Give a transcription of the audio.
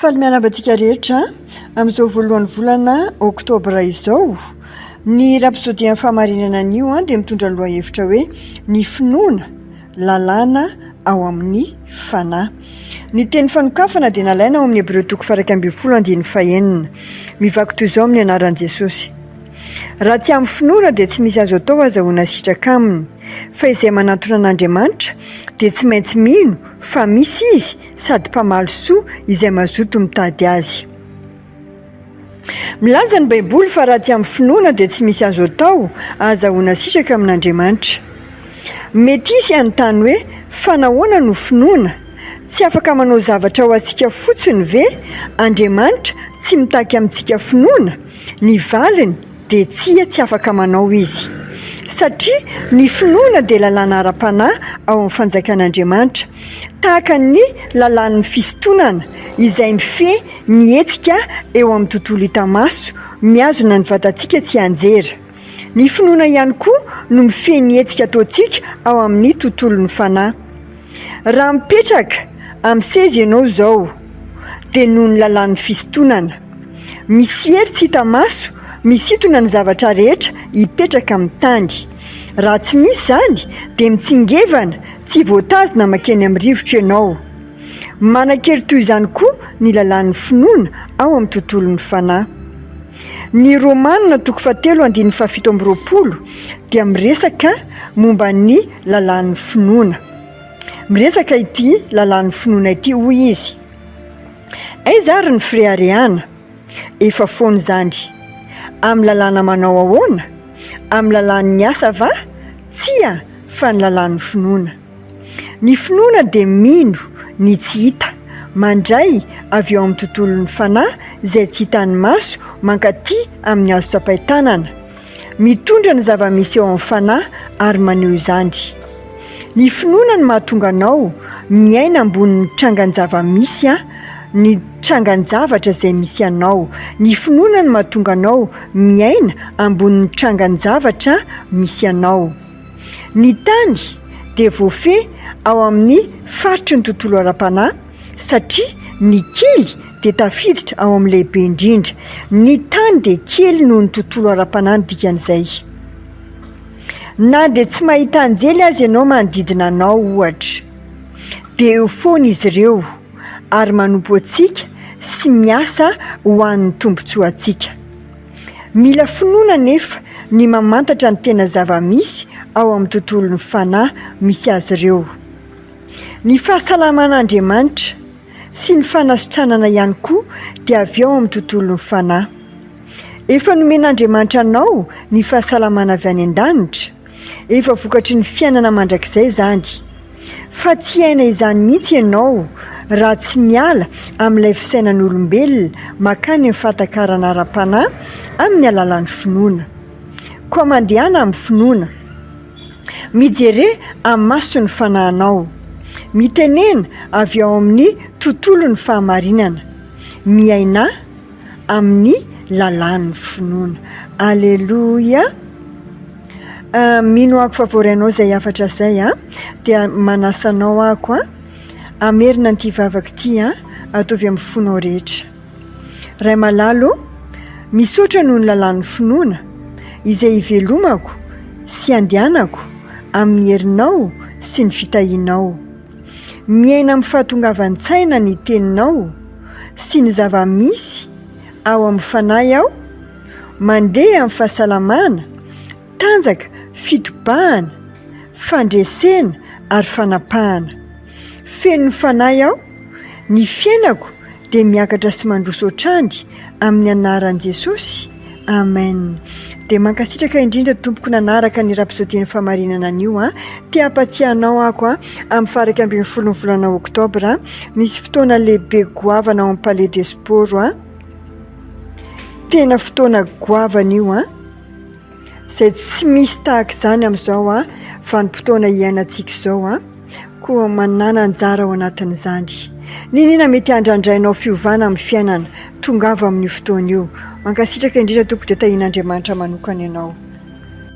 Faly miarahaba antsika rehetra amin'izao voalohan'ny volana oktobra izao. Ny rapsodian'ny fahamarinana anio dia mitondra ny lohahevitra hoe ny finoana lalàna ao amin'ny fanahy. Ny teny fanokafana dia nalaina ao amin'ny Hebreo toko farak'aim ambin'ny folo andininy fahenina. Mivaky toy izao amin'ny anaran'i Jesosy. Raha tsy amin'ny finoana dia tsy misy azo atao azahoana sitraka aminy, fa izay manantona an'Andriamanitra dia tsy maintsy mino fa misy izy sady mpamaly soa izay mazoto mitady azy. Milaza ny Baiboly fa raha tsy amin'ny finoana dia tsy misy azo atao, ahazahoana sitraka amin'Andriamanitra. Mety hisy hanontany hoe, Fa nahoana no finoana? Tsy afaka manao zavatra ho antsika fotsiny ve Andriamanitra, tsy mitaky amintsika finoana? Ny valiny, dia tsia tsy afaka manao izy. Satria ny finoana dia lalàna ara-panahy ao amin'ny fanjakan'Andriamanitra, tahaka ny lalàn'ny fisintonana izay mifehy ny hetsika eo amin'ny tontolo hita maso, mihazona ny vatantsika tsianjery. Ny finoana ihany koa no mifehy ny hetsika ataontsika ao amin'ny tontolon'ny fanahy. Raha mipetraka amin'ny seza ianao izao dia noho ny lalàn'ny fisintonana. Misy hery tsy hita maso misintona ny zavatra rehetra hipetraka amin'ny tany. Raha tsy misy izany dia mitsingevana tsy voatazona mankeny amin'ny rivotra ianao. Manan-kery toy izany koa ny lalàn'ny finoana ao amin'ny tontolon'ny fanahy. Ny Romana toko fahatelo andininy fahafito amby roapolo dia miresaka momba ny lalàn'ny finoana. Miresaka ity lalàn'ny finoana ity, hoy izy, Aiza ary ny fireharehana? Efa foana izany. Amin'ny lalàna manao ahoana? Amin'ny lalàn'ny asa va? Tsia, fa ny lalàn'ny finoana. Ny finoana dia mino ny tsy hita, mandray avy ao amin'ny tontolon'ny fanahy izay tsy hitan'ny maso mankaty amin'ny azo tsapain-tanana. Mitondra ny zava-misy eo amin'ny fanahy ary maneho izany. Ny finoana no mahatonga anao miaina ambonin'ny trangan-java-misy, ny trangan-javatra izay misy anao. Ny finoana no mahatonga anao miaina ambonin'ny trangan-javatra misy anao. Ny tany dia voafehy ao amin'ny faritry ny tontolo ara-panahy satria ny kely dia tafiditra ao amin'ny lehibe indrindra. Ny tany dia kely noho ny tontolo ara-panahy ny dikan'izay. Na dia tsy mahita anjely aza ianao manodidina anao, ohatra, dia eo foana izy ireo ary manompo antsika sy miasa ho an'ny tombontsoantsika. Mila finoana anefa ny mamantatra ny tena zava-misy ao amin'ny tontolon'ny fanahy misy azy ireo. Ny fahasalaman'Andriamanitra, sy ny fanasitranana ihany koa, dia avy ao amin'ny tontolon'ny fanahy. Efa nomen'Andriamanitra anao ny fahasalamana avy any an-danitra? Efa vokatry ny fiainana mandrakizay izany. Fa tsy hiaina izany mihitsy ianao raha tsy miala amin'ilay fisainan'olombelona makany amin'ny fahatakarana ara-panahy amin'ny alalan'ny finoana. Koa mandehana amin'ny finoana. Mijere amin'ny mason'ny fanahinao. Mitenena avy ao amin'ny tontolon'ny fahamarinana. Miaina. amin'ny lalàn'ny finoana. Aleloia! Mino ako fa vory anao izay hafatra izay an! Dia manasa anao ako an! Hamerina an'ity vavaka ity an! Ataovy amin'ny fonao rehetra. Ray malala ô, misaotra noho ny lalàn'ny finoana izay hivelomako sy handehanako amin'ny herinao sy ny fitahianao. Miaina amin'ny fahatongavan-tsaina ny Teninao sy ny zava-misy ao amin'ny fanahy aho, mandeha amin'ny fahasalamana, tanjaka, fitobahana, fandresena ary fanapahana. Feno ny fanahy aho, ny fiainako dia miakatra sy mandroso hatrany amin'ny anaran'i Jesosy. Amen dia mankasitraka indrindra tompoko nanaraka ny rapsodie ny famarinana anio a ti hampatsiahy anao ako a amin'ny faraka ambin'ny folo ny volana oktobra misy fotoana lehibe goavana ao amin'ny palais de sport a tena fotoana goavana io a izay tsy misy tahaka izany amin'izao a vanim-potoana hiainantsika izao a koa manana anjara ao anatin'izany. Niniana mety handrandrainao fiovana amin'ny fiainana, tongava amin'io fotoana io. Mankasitraka indrindra tompoko dia tahian'Andriamanitra manokana ianao.